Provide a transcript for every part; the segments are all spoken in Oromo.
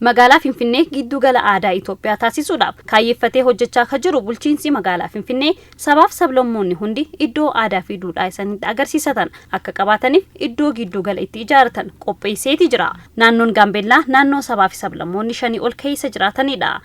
Magaalaa Finfinnee gidduu gala aadaa Itoophiyaa taasisuudhaaf kaayyeffatee hojjechaa kan jiru bulchiinsi magaalaa Finfinnee sabaaf sablammoonni hundi iddoo aadaa fi duudhaa isanitti agarsiisatan akka qabaataniif iddoo gidduu gala itti ijaaratan qopheesseeti jira. Naannoon Gaambeellaa naannoo sabaa fi sablammoonni shanii ol keessa jiraatanidha.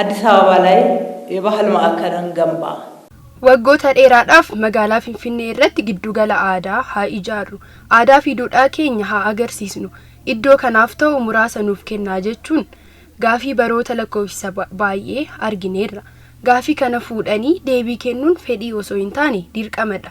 Addis Ababa lay Yebahal Ma'akal Enganbaa. Waggoota dheeraadhaaf magaalaa Finfinnee irratti giddugala aadaa haa ijaarru, aadaa fi duudhaa keenya haa agarsiisnu, iddoo kanaaf ta'u muraasa nuuf kennaa jechuun gaafii baroota lakkoofsisa baay'ee argineerra. Gaafii kana fuudhanii deebii kennuun fedhii osoo hin taane dirqama dha.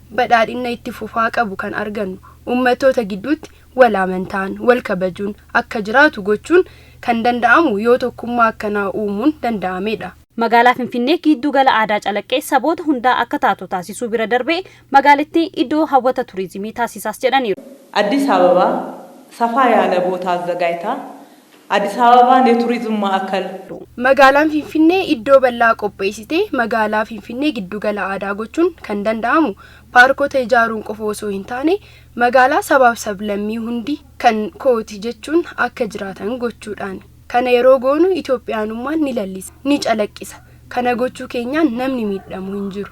badhaadhinna itti fufaa qabu kan argannu ummattoota gidduutti wal amantaan, wal kabajuun akka jiraatu gochuun kan danda'amu yoo tokkummaa akkanaa uumuun danda'ameedha. Magaalaa Finfinnee giidduu gala aadaa calaqqee saboota hundaa akka taatu taasisuu bira darbee magaalittii iddoo hawwata turizimii taasisaas jedhaniiru. Addis Ababa, Safaa yaala boota azzagaajtaa Addis Ababaan ye Tourism Maakal. Magaalaan Finfinnee iddoo bal'aa qopheessitee magaalaa Finfinnee giddugala aadaa gochuun kan danda'amu paarkota ijaaruun qofa osoo hin taane magaalaa sabaaf sablammii hundi kan kooti jechuun akka jiraatan gochuudhaani. Kana yeroo goonu Itoophiyaanummaan ni lallisa, ni calaqqisa. Kana gochuu keenyaan namni miidhamu hin jiru.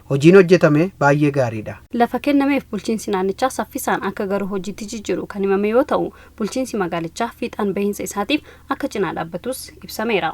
Hojiin hojjetame baay'ee gaariidha. Lafa kennameef bulchiinsi naannichaa saffisaan akka garu hojiitti jijjiiru kan himame yoo ta'u, bulchiinsi magaalichaa fiixaan bahiinsa isaatiif akka cinaa dhaabbatus ibsameera.